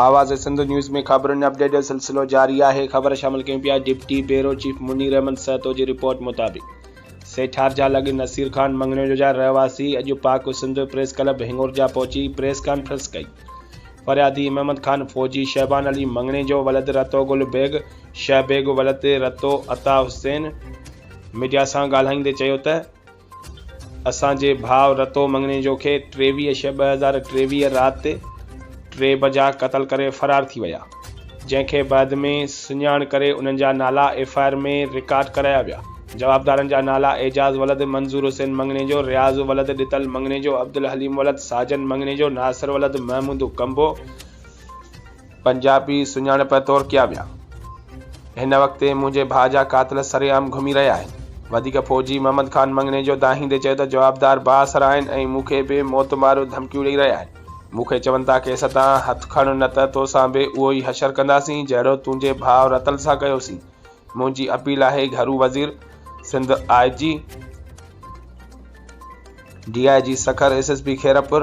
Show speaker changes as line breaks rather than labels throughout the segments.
آواز سنڌ نيوز ۾ خبرن ۽ اپڊيٽ جو سلسلو جاري آهي خبر شامل ڪيون پيا deputy bureau chief Munir Ahmed Sahito جي رپورٽ مطابق سيٺار جا لڳ نصير خان مڱڻيو جو جا رهواسي اڄ پاڪ سنڌ پريس ڪلب هنڱورجا پهچي پريس ڪانفرنس ڪئي فريادي محمد خان فوجي شهبان علي مڱڻي جو ولد رتو گل بيگ شهه بيگ ولد رتو عطا حسين ميڊيا سان ڳالهائيندي چيو ته اسان جي ڀاء رتو مڱڻيجو کي ٽيويهه شيء ٻه هزار ٽيويهه رات ٽي بجا قتل ڪري فرار ٿي ويا، جنهن کي بعد ۾ سڃاڻ ڪري انهن جا نالا ايف آء آر ۾ رڪارڊ ڪرايا ويا. جوابدارن جا نالا اعجاز ولد منظور حسين مڱڻيجو، رياض ولد ڏتل مڱڻيجو، عبدالحليم ولد ساجن مڱڻيجو، ناصر ولد محمود ڪنڀو، پنجابي سڃاڻپ طور ڪيا ويا. هن وقت تي منهنجي ڀاء جا قاتل سرعام گهمي رهيا آهن. وڌيڪ فوجي محمد خان مڱڻي جو دانهيندي چيو ته جوابدار بااثر آهن ۽ مون کي به موت ماريون ڌمڪيون ڏئي رهيا آهن. مون کي چون ٿا ڪيس تان هٿ کڻ نه ته توسان به اهو ئي حشر ڪنداسين جهڙو تنهنجي ڀاء رتل سان ڪيوسين. منهنجي اپيل آهي گهرو وزير، Sindh I G, D I G Sukkur, S S P Khairpur,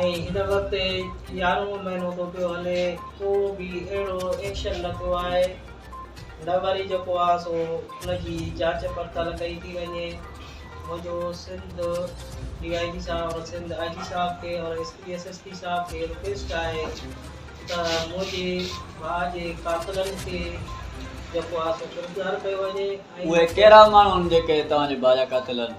۽ هن وقت يارهون مهينو ٿو پيو هلي ڪو به اهڙو ايڪشن نه ٿيو آهي نه وري جيڪو آهي سو ان جي جاچ پڙتال ڪئي ٿي وڃي منهنجو سنڌ ڊي آء جي صاحب اور سنڌ آء جي صاحب کي اور S P S S P صاحب کي رڪويسٽ آهي ته منهنجي ڀاء جي قاتلن کي جيڪو آهي سو گرفتار ڪيو وڃي اهي ڪهڙا
ماڻهو آهن جيڪي توهان جي ڀاء جا قاتل آهن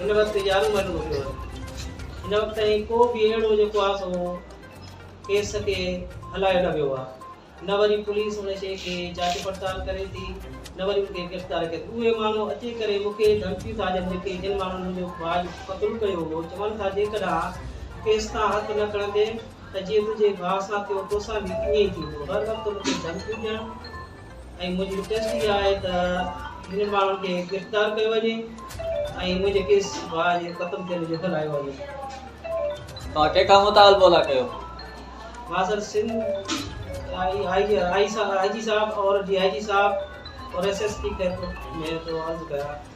هن وقت يارهون مهينو ٿيو هو. هن وقت تائين ڪو به اهڙو جيڪو آهي سو ڪيس کي هلايو نه ويو آهي. نه وري پوليس ان شيء کي جاچ پڙتال ڪري ٿي، نه وري ان کي گرفتار ڪري ٿي. اهي ماڻهو اچي ڪري مون کي ڌمڪيون ٿا ڏين جيڪي جن ماڻهن منهنجو ڀاء جيڪو قتل ڪيو هو چون ٿا جيڪڏهن ڪيس تان هٿ نه کڻندين ته جيئن تنهنجي ڀاء سان ٿيو توسان به ائين ئي ٿيندو. هر وقت مون کي ڌمڪيون ڏيڻ. ۽ منهنجي رڪويسٽ اها آهي ته هنن ماڻهن کي گرفتار ڪيو وڃي ۽ منهنجي ڪيس ڀاء جي قتل ٿيڻ جو هلايو وڃي.
ڀاء کي ڪا مطالبو لاء ڪيو؟ مان سر
سنڌ آء جي صاحب اور ڊي آء جي صاحب اور ايس ايس پي کي ٿو عرض ڪيان